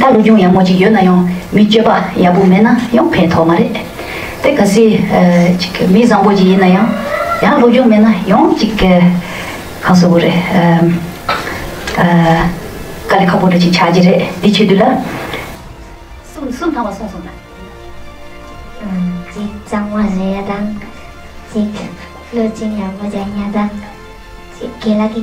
ད་ལོ་ཅུང་ཡག་མོ་ཅིག་ཡོད་ན་ཡང་མི་སྤྱོད་པ་ཡག་པོ་མེད་ན་ཡང་ཕན་ཐོག་མ་རེད་དེ་ག་སྲིད། མི་བཟང་པོ་ཅིག་ཡིན་ན་ཡང་ཡང་སློབ་སྦྱོང་མེད་ན་ཡང་གཅིག་ག་སོ་བོ་རེད། དཀའ་ལས་ཁག་པོ་འགྲོ་ཅིག་ཆགས་ཀྱི་རེད་འདི་ཆོས་དུས་ལ། སུམ་སུམ་ཐང་བ་སོང་སོང་ན། གཅིག་གཙང་མ་བཟོས་ཡ་དང། གཅིག་བློ་སྦྱིན་ཡག་པོ་སྦྱང་ཡ་དང། གཅིག་དགེ་ལ་གི།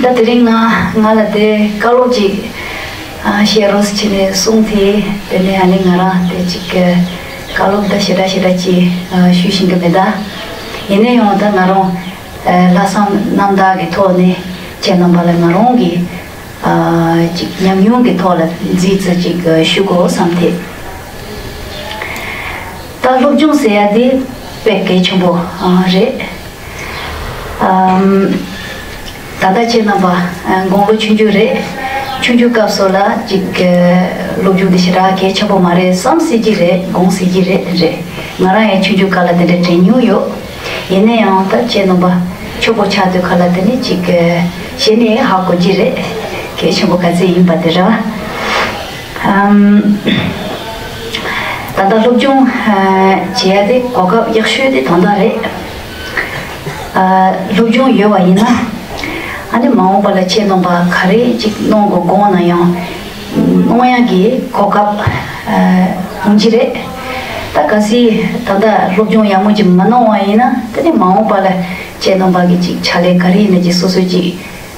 ད་དེ་རིང་ང་ང་ལ་དེ་བཀའ་སློབ་ཅིག་བཤད་རོགས་བྱས་ནས་གསུངས་དེ་དེ་ནས་ཨ་ནེ་ང་རང་དེ་ཅིག་གི་བཀའ་སློབ་ད་ཞེ་དྲག་ཞེ་དྲག་ཅིག་ཞུས་བཞིན་གི་མེད་ད། ཡིན་ན་ཡང་ད་ང་རང་ལྷག་བསམ་རྣམ་དག་གི་ཐོག་ནས་ཁྱེད་རྣམ་པ་ལ་ང་རང་གི་ཅིག་ཉམས་མྱོང་གི་ཐོག་ལ་རྫིས་རྩི་ཅིག་ཞུ་དགོས་བསམ་དེ། ད་སློབ་སྦྱོང་ཟེར་ཡ་དེ་དཔེ་གལ་ཆེན་པོ་རེད། ད་ལྟ་ཁྱེད་རྣམས་པ་དགུང་ལོ་ཆུང་ཆུང་རེད། ཆུང་ཆུང་སྐབས་སུ་ལ་ཅིག་སློབ་སྦྱོང་འདི་ཞེ་དྲག་གལ་ཆེན་པོ་མ་རེད་བསམ་སྲིད་ཀྱི་རེད་དགོངས་སྲིད་ཀྱི་རེད་རེད། ང་རང་ཡང་ཆུང་ཆུང་སྐབས་ལ་དེ་འདྲ་དྲན་མྱོང་ཡོད། ཡིན་ན་ཡང་ད་ཁྱེད་རྣམས་པ་ཁྱོ་པོ་ཆགས་དུས་ཁ་ལ་དེ་ནི་ཅིག་བྱས་ནས་ཧ་གོ་གྱི་རེད། གལ་ཆེན་པོ་ག་ཚད་ཡིན་པ་དེ་ར། ད་ལྟ་སློབ་སྦྱོང་བྱེད་ཡ་དེ་གོ་སྐབས་ཡག་ཤོས་དེ་དོན་དག་རེད། སློབ་སྦྱོང་ཡོད་བ་ཡིན་ན་ཨ་ནེ་མ་འོངས་པ་ལ་ཆེད་འདོམས་པ་ག་རེ་ཅིག་གནོང་དགོས་དགོངས་ན་ཡང་གནོང་ཡ་གི་གོ་སྐབས་ཡིན་གྱི་རེད། ད་ག་སྲིད་ད་ལྟ་སློབ་སྦྱོང་ཡག་མོ་ཅིག་མ་གནང་བ་ཡིན་ན་ད་ནི་མ་འོངས་པ་ལ་ཆེད་འདོམས་པ་གི་ཅིག་བྱ་ལས་ག་རེ་ཡིན་ན་ཅིག་སོ་སོས་ཅིག་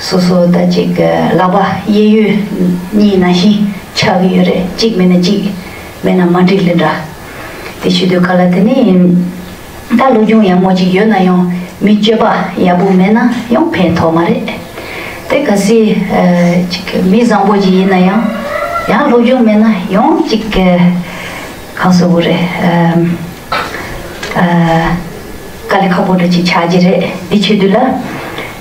སོ་སོ་ད་ཅིག་གི་ལག་པ་གཡས་གཡོན་གཉིས་ན་བཞིན་ཆགས་ཀྱི་ཡོད་རེད་གཅིག་མེད་ན་གཅིག་མེད་ན་མ་འགྲིག་ལེ་འདྲ། དེ་ཤི་དུས་ག་ལ་དེ་ནས་ཡིན། ད་སློབ་སྦྱོང་ཡག་མོ་ཅིག་ཡོད་ན་ཡང་མི་སྤྱོད་པ་ཡག་པོ་མེད་ན་ཡང་ཕན་ཐོག་མ་རེད། དེ་ག་སྲིད་ཅིག་མི་བཟང་པོ་ཅིག་ཡིན་ན་ཡང་ཡང་སློབ་སྦྱོང་མེད་ན་ཡང་ཅིག་ག་སོ་བོ་རེད། དཀའ་ལས་ཁག་པོ་འདྲ་ཅིག་ཆགས་ཀྱི་རེད་འདི་ཆོས་དུས་ལ།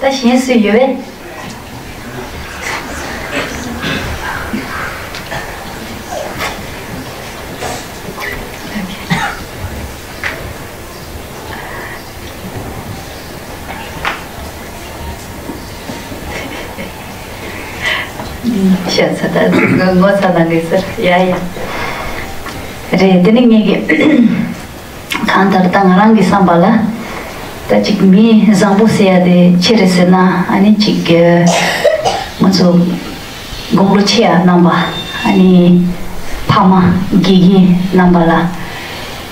ད་གཞན་སུ་ཡོད། ཤ་ཚ་ད་ཚུགས་ངོ་ཚ་ནང་གི་སར་ཡ་ཡ་རེད་དེ་ནི་ངེད་ཀྱི་གང་ལྟར་ད་ང་རང་གི་བསམ་པ་ལ། ད་ཅིག་མི་བཟང་པོ་བསད་ཡ་དེ་ཁྱེད་རེད་ཟེར་ན་ཨ་ནི་ཅིག། ང་ཚོ་དགོང་ལོ་ཆེ་ཡ་རྣམ་པ་ཨ་ནི་ཕ་མ་དགེ་རྒན་རྣམ་པ་ལ།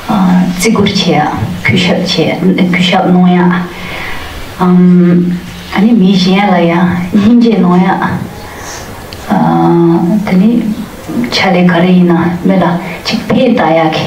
བརྩི་བཀུར་བྱེད་ཡ་གུས་ཞབས་བྱེད་ཡ་གུས་ཞབས་གནོང་ཡ། ཨ་ནི་མི་གཞན་ལ་ཡང་སྙིང་རྗེ་གནོང་ཡ། དེ་ནི་ཆ་ལེ་ག་རེ་ཡིན་ན་མི་ལ་ཅིག་ཕན་བཏགས་ཡ་གི།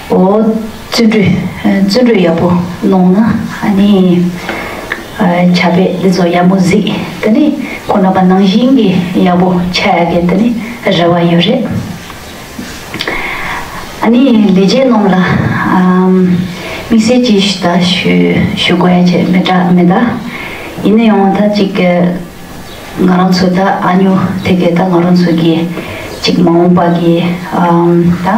འོ། བརྩོན་འགྲུས། བརྩོན་འགྲུས་ཡག་པོ་གནོངས་ན་ཨ་ནི། བྱ་བས་འདི་ཚོ་ཡག་མོ་གཟིགས་དེ་ནི་ཁོ་ན་པ་ནང་བཞིན་གྱི་ཡག་པོ་ཆགས་ཡག་གི་དེ་ནི་རེ་བ་ཡོད་རེད། ཨ་ནི་ལས་བྱེད་རྣམས་ལ་དམིགས་བསལ་གྱིས་ཞུ་དག་ཞུ་དགོས་ཡ་ཆེ་མེད་དྲག་མེད་དག་ཡིན་ན་ཡང་ད་ཅིག་ང་རང་ཚོ་དག་ཨ་ཉོ་དེ་གས་ད་ང་རང་ཚོ་གྱིས་ཅིག་མ་འོངས་པ་གྱི་དང།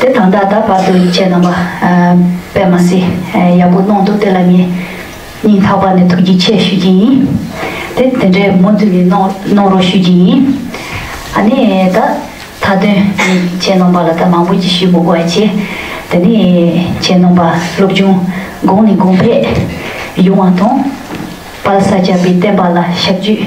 དེ་དང་ད་ལྟ་བར་དུ་ཡིད་ཆེས་རྣམ་པ་པད་མ་སི་ཡག་པོ་གནང་འདུག་དེ་ལ་ངས་སྙིང་ཐག་པ་ནས་ཐུགས་རྗེ་ཆེ་ཞུ་རྒྱུ་ཡིན། དེ་དེ་འདྲའི་མུ་མཐུད་ནས་གནང་རོགས་ཞུ་རྒྱུ་ཡིན། ཨ་ནི་ད་མཐའ་དོན་ངས་ཡིད་ཆེས་རྣམ་པ་ལ་ད་མང་པོ་ཅིག་ཞུ་དགོས་པ་ཆེ། དེ་ནི་ཡིད་ཆེས་རྣམ་པ་སློབ་ཆུང་གོང་ནས་གོང་འཕེལ་ཡོང་བ་དང། པ་ལ་ས་སྐྱ་པའི་བསྟན་པ་ལ་ཞབས་ཇུས།